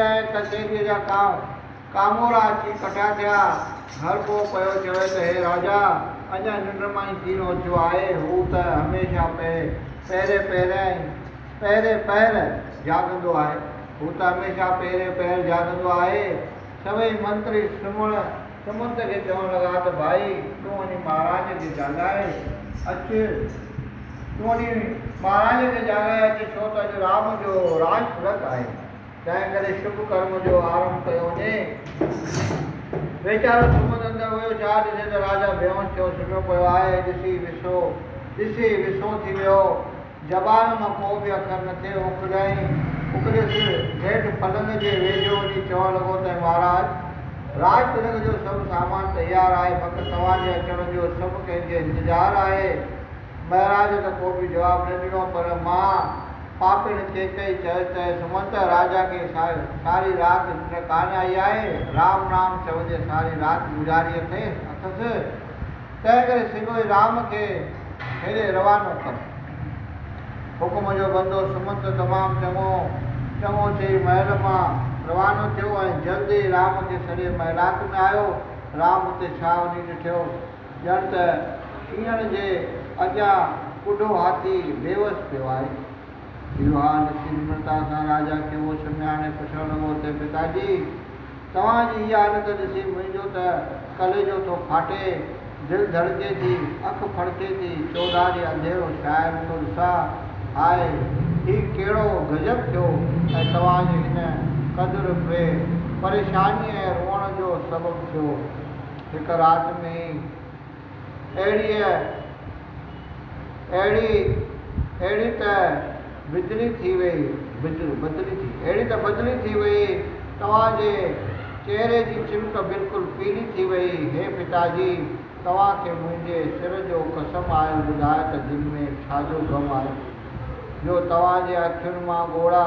۽ ڪچهريء جا ڪاو ڪامورا اچي ڪٺا ٿيا. هر ڪو پيو چوي ته هي راجا اڃا ننڊ مان ئي ڪين اٿيو آهي، هو ته هميشه پهه پهرين پهرين پهرين پهر جاڳندو آهي، هو ته هميشه پهرين پهر جاڳندو آهي. سويئي منتري سمهڻ سمنت کي چوڻ لڳا ته ڀائي تون وڃي مهاراج کي جاڳائي اچ، تون وڃي مهاراج کي جاڳائي اچ، ڇو ته اڄ رام جو راڄ ڀڙڪ آهي. تنهن ڪري شڀ ڪرم جو آرنڀ ڪيو وڃي. ويچارو سمنڊ اندر ويو جا ڏسي ته راجا بيهوش ٿيو سمهيو پيو آهي. ڏسي وسو ڏسي وسو ٿي ويو. زبان مان ڪو به اکر نه ٿي اکليائين. اکلي سر نيٺ پلنگ جي ويجهو وڃي چوڻ لڳو ته مهاراج! راڄ تلنگ جو سڀ سامان تيار آهي، فقط توهان جي اچڻ جو سڀ ڪنهن کي انتظار آهي. مهراج ته ڪو به جواب نه ڏنو، پر ماء پاپيڻ ڪيڪئي چيو ته سمنت راجا کي ساري رات ننڊ ڪانه آئي آهي، رام رام چوندي ساري رات گذاري اٿس، تنهن ڪري سگهوئي رام کي هيڏي روانو ڪر. حڪم جو بندو سمنت تمام چڱو چڱو چئي محل مان روانو ٿيو ۽ جلد ئي رام کي سڏي محلات ۾ آيو. رام اتي ڇا وڃي ڏٺيو؟ ڄڻ ته شينهن جي اڳيان ٻڍو هاٿي بيوس پيو آهي. اهو حال ڏسي نمرتا سان راجا کي هوش ۾ آڻي پڇڻ لڳو ته پتا جي! توهان جي هيء حالت ڏسي منهنجو ته ڪليجو ٿو ڦاٽي، دل ڌڙڪي ٿي، اک ڦڙڪي ٿي، چوڌاري انڌيرو ڇانيل ٿو ڏسان. هاء! هي ڪهڙو غضب ٿيو ۽ توهان جي هن قدر پري پريشانيء ۽ روئڻ جو سبب ٿيو؟ هڪ رات ۾ اهڙيء اهڙي اهڙي ته بدلي ٿي ويئي بدل بدلي ٿي اهڙي ته بدلي ٿي ويئي توهان جي چهري جي چمڪ بلڪل پيلي ٿي ويئي هي پتا جي توهان کي منهنجي سر جو قسم آهيو ٻڌايو ته دل ۾ ڇا جو غم آهي جو توهان جي اکين مان ڳوڙها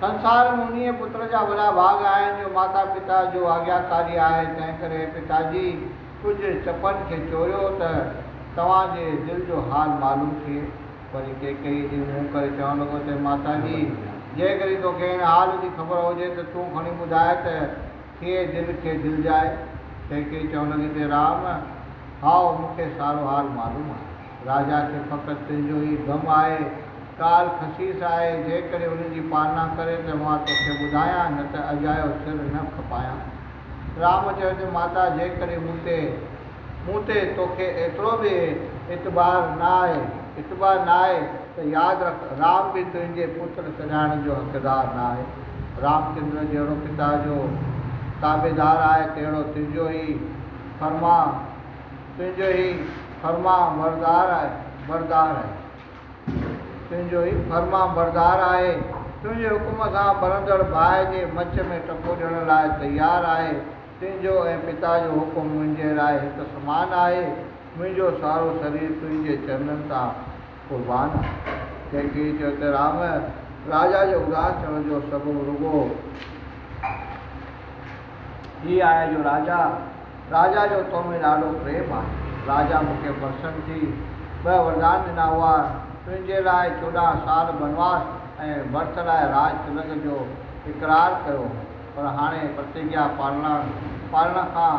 سنسار ۾ انهيء پتر جا وڏا ڀاڳ آهن، جو ماتا پتا جو آگياڪاري آهي، تنهنڪري پتا جي ڪجهه چپن کي چوريو ته توهان جي دل جو حال معلوم ٿئي. وري ڪيڪئي جي منهن ڪري چوڻ لڳو ته ماتا جي! جيڪڏهن توکي هن حال جي خبر هجي ته تون کڻي ٻڌاء ته ٿئي دل کي دلجاء. ڪيڪئي چوڻ لڳي ته رام! هائو، مون کي سارو حال معلوم آهي. راجا کي فقط تنهنجو ئي غم آهي. ڪال خسيس آهي، جيڪڏهن ان جي پالنا ڪرين ته مان توکي ٻڌايان، نه ته اجايو سر نه کپايان. رام چيو ته ماتا جيڪڏهن مون تي، مون تي توکي ايترو به اعتبار نه آهي، اتباع نه آهي ته ياد رک رام به تنهنجي پتر سڏائڻ جو حقدار نه آهي. رامچندر جهڙو پتا جو تابعدار آهي، تهڙو تنهنجو ئي فرمان، تنهنجو ئي. فرمان بردار آهي بردار آهي تنهنجو هي فرمان بردار آهي تنهنجي حڪم سان ٻرندڙ باهه جي مچ ۾ ٽپو ڏيڻ لاء تيار آهي تنهنجو ۽ پتا جو حڪم منهنجي لاء هڪ سمان آهي منهنجو سارو سرير تنهنجي چرنن تان قربان آهي. ڪنهن ڪنهن چيو ته رام راجا جي اداس ٿيڻ جو سبب رڳو هي آهي جو راجا راجا جو تو ۾ ڏاڍو پريم آهي. راجا مون کي پرسن ٿي ٻه وردان ڏنا هئا، تنهنجي لاء چوڏهن سال بنواس ۽ ڀرت لاء راج تلڪ جو اقرار ڪيو هو، پر هاڻي پرتجيا پالڻ کان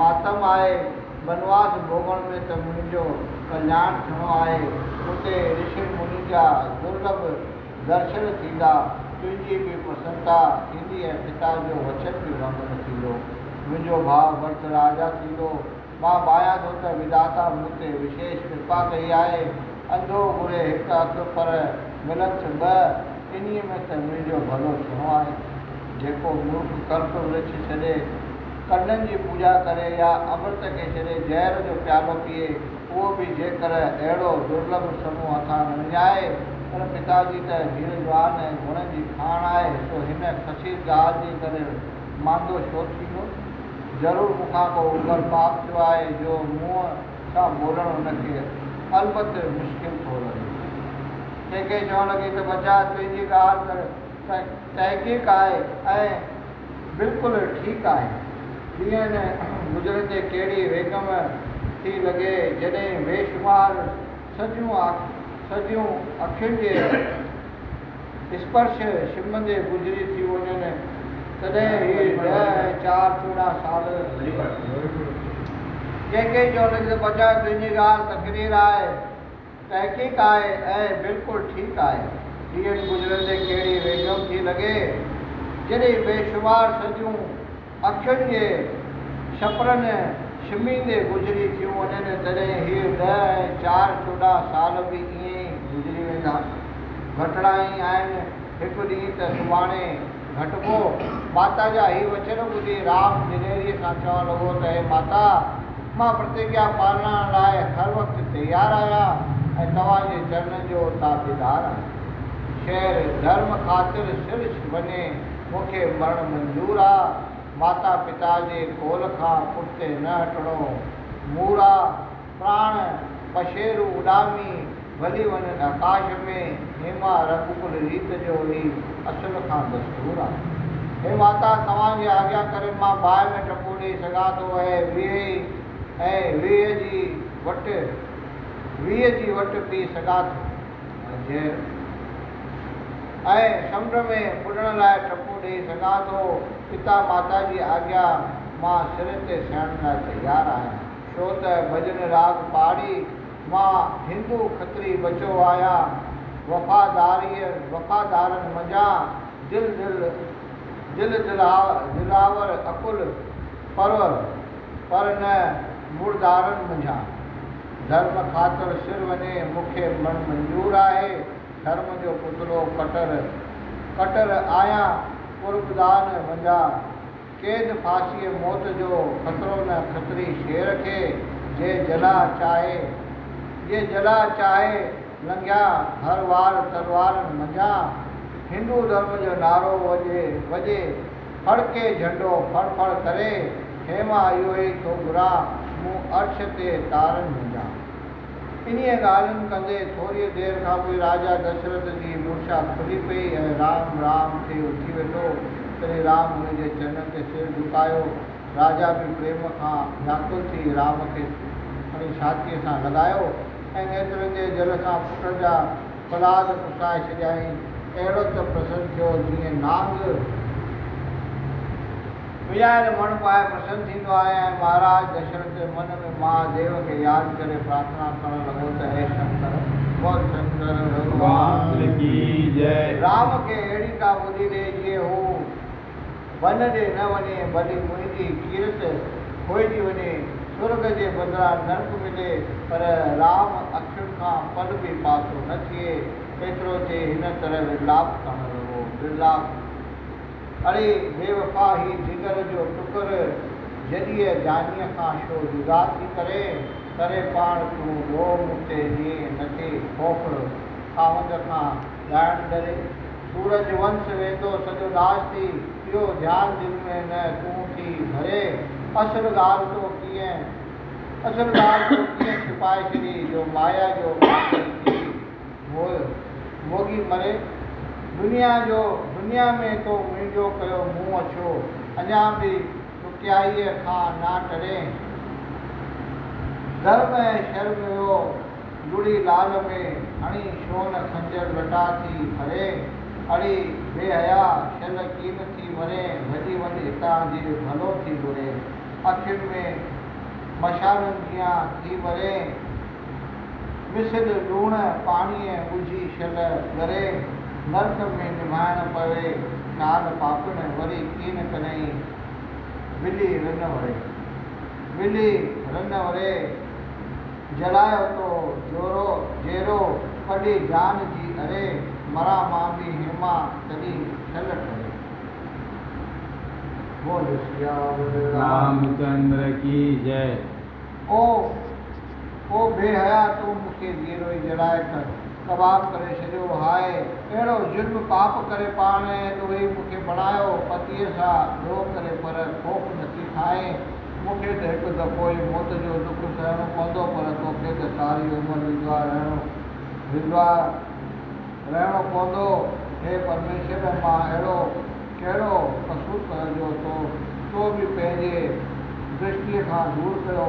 ماتم آهي بنواس ڀوڳڻ ۾ ته منهنجو ڪلياڻ ٿيڻو آهي اتي رشي منين جا درلڀ درشن ٿيندا تنهنجي به پرسنتا ٿيندي ۽ پتا جو وچن به ڀنگڻ ٿيندو منهنجو ڀاء ورت راجا ٿيندو مان ڀانيان ٿو ته وڌاتا مون تي وشيش ڪرپا ڪئي آهي انڌو گهري هڪ اک پر ملنس ٻه انهي ۾ ته منهنجو ڀلو ٿيڻو آهي جيڪو مورک ڪلپ ورڇ ڇڏي ڪنن جي پوڄا ڪري يا امرت کي ڇڏي زهر جو پيالو پيئي، اهو به جيڪر اهڙو درلڀ سمون هٿان نه وڃائي، ان پتا جي ته هير جوان ۽ گڻن جي کاڻ آهي، سو هن کسير ڳالهه جي ڪري ماندو ڇو ٿيندو؟ ضرور مون کان ڪو اوگهڙ پاپ ٿيو آهي، جو منهن سان ٻولڻ هن کي البت مشڪل ٿو لڳي. ڪي ڪي چوڻ لڳي ته ٻچا تنهنجي ڳالهه ته تحقيق آهي ۽ بلڪل ٺيڪ آهي. ڏينهن گذرندي ڪهڙي ويڪم ٿي لڳي جڏهن بيشمار سڄيون سڄيون اکين جي اسپرش شرمندي گذري ٿي وڃن تڏهن هي ڏهه ۽ چار چوڏهن سال ڪنهن ڪنهن چيو ته بچايو تنهنجي ڳالهه تقرير آهي. تحقيق آهي ۽ بلڪل ٺيڪ آهي. ڏينهن گذرندي ڪهڙي ويجهو ٿي لڳي، جڏهن بيشمار صديون اکين جي شپرن شميندي گذري ٿيون وڃن، تڏهن هي ڏهه ۽ چار چوڏهن سال به ائين ئي گذري ويندا. گهٽڙا ئي آهن، هڪ ڏينهن ته سڀاڻي. گهٽبو. ماتا جا هي وچن ٻڌي رام جنيريء کان چوڻ لڳو ته هي ماتا! مان پرتگيا پالڻ لاء هر وقت تيار آهيان ۽ توهان جي چرنن جو تابعدار آهيان. شهر ڌرم خاطر سرڇ وڃي مون کي مرڻ منظور آ. ماتا پتا جي قول کان پٺتي نه هٽڻو مور آ. پراڻ پشيرو اڏامي ڀلي وڃ ڌڪاش ۾، هيما رڳ ڪل ريت جو هي اصل کان دستور آهي. هي ماتا توهان جي آجيا ڪري مان باهه ۾ ٽپو ڏيئي سگهان ٿو اهي ويهي ئي ۽ ويهه جي وٽ ويهه جي وٽ پي سگهان ٿو. منجهيل ۽ سمنڊ ۾ ٻڏڻ لاء ٽپو ڏيئي سگهان ٿو، پتا ماتا جي آجيا مان سر تي سهڻ لاء تيار آهيان. ڇو ته ڀڄن راڳ پاڙي مان هندو کتري ٻچو آهيان. وفاداريء وفادارن منجهان دل دل دل دلاور عقل پرور پر نه مڙدارن منجهان. ڌرم خاطر سر وڃي مون کي مرڻ منظور آهي. ڌرم جو پتلو ڪٽر ڪٽر آهيان قربدان منجهان. قيد ڦاسيء موت جو خطرو نه خطري شير کي جي جلاء چاهي جي جلاء چاهي لنگهيا هر وار تلوارن منجهان هندو ڌرم جو نعرو وڄي وڄي ڦڙڪي جهنڊو ڦڙ ڦڙ ڪري هي مان اهوئي ٿو گهران مون عرش تي تارن منجهان. انهيء ڳالهين ڪندي ٿوريء دير کان پوء راجا دشرٿ جي مورچا کلي پئي ۽ رام رام ٿي اٿي ويٺو. تڏهن رام هن جي چرنن تي سر جهڪايو. راجا به پريم کان وياڪل ٿي رام کي کڻي ڇاتيء سان لڳايو ۽ نيترن جي جل سان پٽ جا پلاز پٽائي ڇڏيائين، اهڙو ته پرسن ٿيو جيئن نانگ ملهائيل مڻ پائي پرسن ٿيندو آهي ۽ مهاراج دشرٿ من ۾ مها ديو کي ياد ڪري پرارٿنا ڪرڻ لڳو ته هي شنڪر! بول شنڪر ڀڳوان رام کي اهڙي ڪا ٻڌي ڏي جيئن هو بن ڏي نه وڃي ڀلي منهنجي ڪيرت کوئجي وڃي، سرڳ جي بدران نرڪ ملي پر رام اکين کان پل به پاسو نه ٿئي. ايترو چئي هن طرح ورلاپ ڪرڻ لڳو. ورلاپ، اڙي بيوفا هي جگر جو ٽڪر جڏيء جانيء کان شو جدا ٿي ڪرين، ڪري پاڻ تون روء مون تي ڏينهن نٿي، کوکر، خاوند کان ڳائڻ ڪري. سورج ونس ويندو سڄو ناس ٿي. اهو ڌيان دل ۾ نه تون ٿي ڀري. اصل ڳالهه تو ڪيئن اصل ڳالهه تو ڪيئن ڇپائي ڇڏي جو مايا جو قاتل ٿي موء موڳي مري. دنيا جو دنيا ۾ تو منهنجو ڪيو منهن اڇو. اڃا به ڏکيائيء کان نه ٽرين. ڌرم ۽ شرم جو. گڙي لال ۾ هڻي شون خنجر لٽا ٿي ڦرين، اڙي بي حيا شل ڪين ٿي مرين ڀڄي وڃ هتان جي ڀلو ٿي گهرين، اکين ۾ مشالن جيان ٿي ٻرين مثل لوڻ پاڻيء ڳجهي شل ڳرين، نرڪ ۾ نڀائڻ پوي شال پاپڻ وري ڪين ڪرين ولي رن وري، ولي رن وري جلاء اتو جورو جيرو پڏي جان جي اري مران مان به هيما تڏي ٽل ٺري بول سياور رام رام چندر ڪي جئ. او او بي حيا تون مون کي جيرو ئي جلائي ڪه ڪباب ڪري ڇڏيو هاء اهڙو ظلم پاپ ڪري پاڻ ڏوهي مون کي بڻايو پتيء سان ڏوهه ڪري پر خوف نٿي کائين مون کي ته هڪ دفعو ئي موت جو ڏک سهڻو پوندو پر توکي ته ساري عمر ودوا رهڻو ودوا رهڻو پوندو. هي پرميشور مان اهڙو ڪهڙو قصور ڪيو جو تو تو به پنهنجي درشٽيء کان دور ڪيو.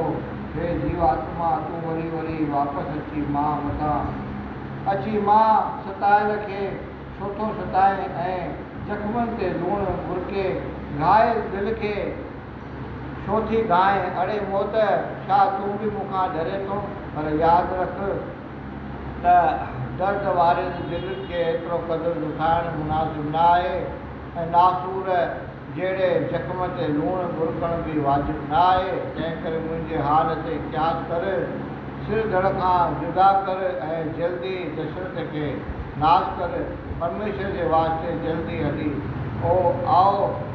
هي جيو آتما تون وري وري واپس اچي مان مٿان اچي مان ستايل کي ڇوٿو ستائين ۽ زخمن تي لوڻ ٻرڪي گهائل دل کي ڇو ٿي گائين؟ اڙي موت! ڇا تون به مون کان ڊرين ٿو؟ پر ياد رک ته درد وارين دلين کي ايترو قدر ڏکائڻ مناسب نه آهي ۽ ناسور جهڙي زخم تي لوڻ ٻرڪڻ به واجب نه آهي، تنهنڪري منهنجي حال تي قياس ڪر، سر ڌڙ کان جدا ڪر ۽ جلدي دشرت کي ناس ڪر، پرميشور جي واسطي جلدي هلي آء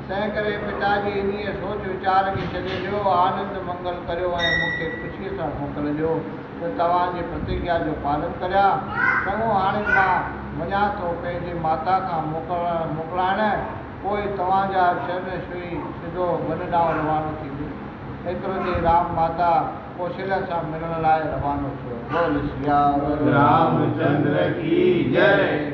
تنهن ڪري پتا جي انهيء سوچ ويچار کي ڇڏي ڏيو، آنند منگل ڪريو ۽ مون کي خوشيء سان موڪلجو ته توهان جي پرتگيا جو پالن ڪريان. چڱو، هاڻي مان وڃان ٿو پنهنجي ماتا کان موڪلڻ موڪلائڻ، پوء توهان جا چرن ڇهي سڌو ون ڏانهن روانو ٿيندس. ايترو چئي رام ماتا ڪوشليا سان ملڻ لاء روانو ٿيو. بول سياور رامچندر ڪي جئي.